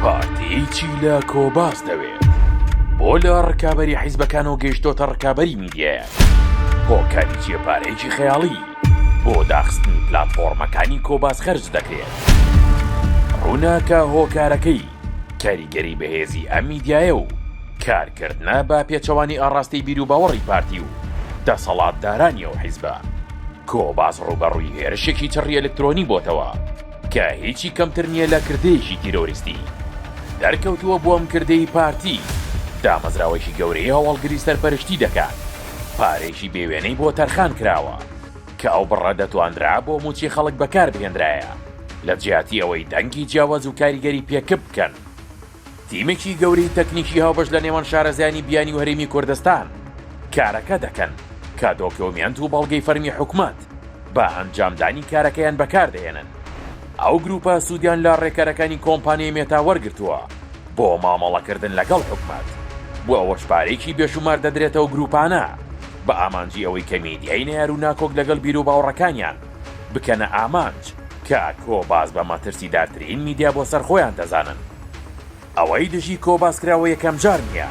پارتی چی لە کۆباس دەوێت؟ بۆ لە ڕکابەری حیزبەکانەوە گەیشتۆتە ڕکابەری میدیایەک؟ هۆکاری چیە پارەیەکی خەیاڵی بۆ داخستنی پلاتفۆڕمەکانی کۆباس خەرج دەکرێت؟ ڕووناکە هۆکارەکەی کاریگەری بەهێزی ئەم میدیایە و کارکردە بە پێچەوانی ئاڕاستەی بیروباوەڕی پارتی و دەسەڵاتدارانی ئەو حیزبە؟ کۆباس ڕووبەڕووی هێرشێکی چڕی ئەلکترۆنی بۆتەوە، کە هیچی کەمتر نییە لە کردەیەکی تیرۆریستی دەرکەوتووە بۆم کردەی پارتی دامەزراوەیەکی گەورەی هەواڵگری سەرپەرشتی دەکات پارێکی بێوێنەی بۆ تەرخان کراوە کە ئەو بڕە دەتواندرا بۆ موچی خەڵک بەکاربهێنرایە لە جیاتی ئەوەی دەنگی جیاواز و کاریگەری پێکپ بکەن تیمێکی گەورەی تەکنیکی هاوبەش لە نێوان شارەزایانی بیانی و هەرێمی کوردستان کارەکە دەکەن کە دۆکیۆمێنت و بەڵگەی فەرمی حکومەت بە ئەنجامدانی کارەکەیان بەکار دەهێنن. ئەو گروپە سوودیان لە ڕێکارەکانی کۆمپانیای مێتا وەرگرتووە بۆ مامەڵەکردن لەگەڵ حکومەت و ئەوەش پارەیەکی بێشومار دەدرێتە ئەو گروپانە بە ئامانجی ئەوەی کە میدیای نەیار و ناکۆک لەگەڵ بیروباوڕەکانیان بکەنە ئامانج کە کۆباس بە مەترسیدارترین میدیا بۆ سەر خۆیان دەزانن ئەوەی دژی کۆباس کراوە یەکەم جار نییە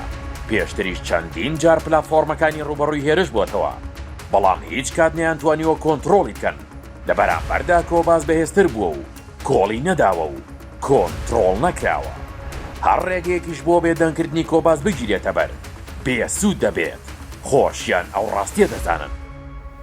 پێشتریش چەندین جار پلاتفۆرمەکانی ڕوبەڕووی هێرش بۆتەوە بەڵام هیچ کات نیانتوانیوە کۆنتڕۆڵی بکەن لە بەرامبەردا کۆباس بەهێزتر بووە و کۆڵی نەداوە و کۆنتڕۆڵ نەکراوە هەر ڕێگەیەکیش بۆ بێدەنگکردنی کۆباس بگیرێتە بەر بێسوود دەبێت خۆشیان ئەو ڕاستیە دەزانن